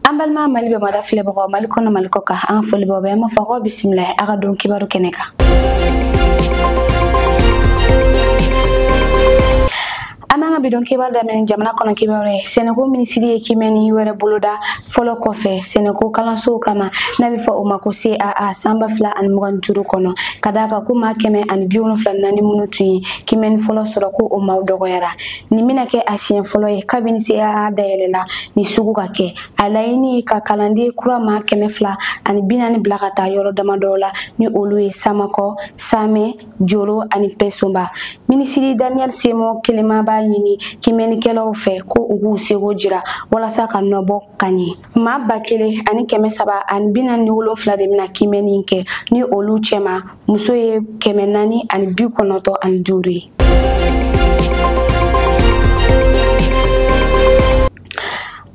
an balima mali bɛ mada filɛbagaw mali kɔnɔ mali kɔkan an ka foli b'aw bɛɛ an b'a fɔ k'aw bisimila a ka don kibaru kɛnɛ kan an b'an ka bi don kibaru daminɛ jamana kɔnɔ kibaru ye sɛnɛko minisiri ye kimɛni wɛrɛ boloda fɔlɔ kɔfɛ sɛnɛko kalansow kama n'a bɛ fɔ o ma ko caa san ba fila ani mugan ni duuru kɔnɔ ka d'a kan ko maa kɛmɛ ani bi wolonfila naani minnu tun ye kimɛni fɔlɔ sɔrɔ ko o maaw dɔgɔyara nin bɛna kɛ a siɲɛ fɔlɔ ye kabini caa dayɛlɛla nin sugu ka kɛ a laɲini ye ka kalanden kura maa kɛmɛ fila ani bi naani bila ka taa yɔrɔ damadɔw la ni olu ye samanko samɛ joro ani mpɛsoba minisiri daniel siméon kelema b'a ɲini kimɛnnikɛlaw fɛ ko u k'u seko jira walasa ka nɔbɔ ka ɲɛ maa ba kelen ani kɛmɛ saba ani bi naani ni wolonfila de bɛna kimɛnni kɛ ni olu cɛma muso ye kɛmɛ naani ani bi kɔnɔntɔn ani duuru ye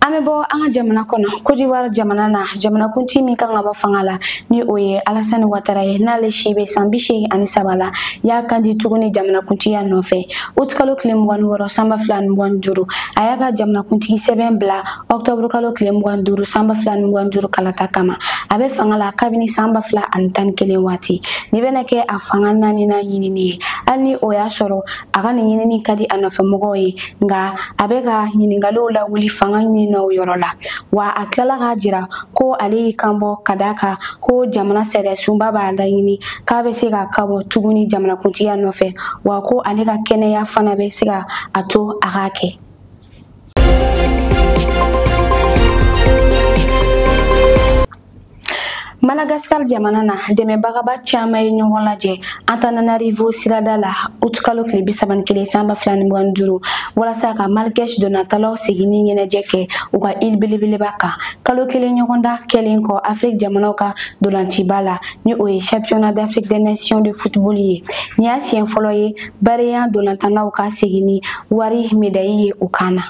an bɛ bɔ an ka jamana kɔnɔ kodiwari jamana na jamanakuntigi min kan ka bɔ fanga la ni o ye alasani watara ye n'ale si bɛ san bi seegin ani saba la y'a kan di tuguni jamanakuntigiya nɔfɛ utikalo tile mugan ni wɔɔrɔ san ba fila ni mugan ni duuru a y'a ka jamanakuntigi sɛbɛn bila ɔktɔburu kalo tile mugan duuru san ba fila ni mugan duuru kalata kama a bɛ fanga la kabini san ba fila ani tan ni kelen waati nin bɛna kɛ a fanga naaninan ɲinini ye hali ni o y'a sɔrɔ a ka nin ɲinini ka di a nɔfɛmɔgɔw ye nka a bɛ ka ɲininkaliw lawuli fanga ɲininaw yɔrɔ la wa a tilala k'a jira ko ale y'i kanbɔ ka d'a kan ko jamana sariyasunba b'a laɲini k'a bɛ se k'a kanbɔ tuguni jamanakuntigiya nɔfɛ wa ko ale ka kɛnɛya fana bɛ se ka a to a k'a kɛ Madagascar jamana na dɛmɛbaga ba caman ye ɲɔgɔn lajɛ Antananarivo sirada la août kalo tile bi saba ni kelen san ba fila ni mugan ni duuru walasa ka Malgache dolantannaw seginni ɲɛnajɛ kɛ u ka île belebeleba kan kalo kelen ɲɔgɔndan kɛlen kɔ Afrique jamanaw ka dolanciba la ni o ye championnat d'Afrique des nations de football ye nin y'a siɲɛ fɔlɔ ye barea dolantannaw ka segin ni wari medayi ye u kan na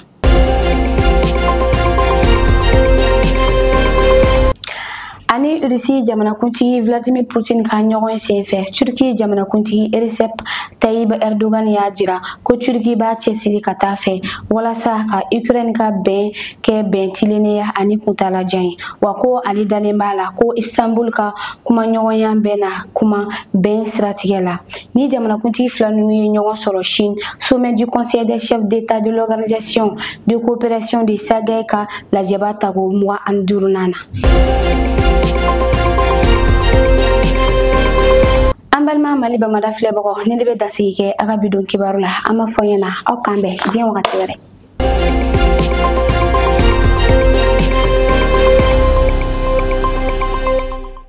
ani rusi jamanakuntigi vladimir putin ka ɲɔgɔn senfɛ turki jamanakuntigi recep tayyip erdogan y'a jira ko turki b'a cɛsiri ka taa fɛ walasa ka ukraine ka bɛn kɛ bɛn tilennenya ani kuntalajan ye wa ko ale dalen b'a la ko istanbul ka kumaɲɔgɔnya bɛna kuma bɛn siratigɛ la Ni jamanakuntigi fila ninnu ye ɲɔgɔn sɔrɔ Chine, sommet du Conseil des chefs d'État de l'Organisation de coopération de Shanghai ka lajɛba tako mugan ani duurunan na. An balima Mali bamada filɛbagaw ne de bɛ dansigi kɛ an ka bi don kibaru la an b'a fɔ ɲɛna aw k'an bɛn diɲɛ wagati wɛrɛ.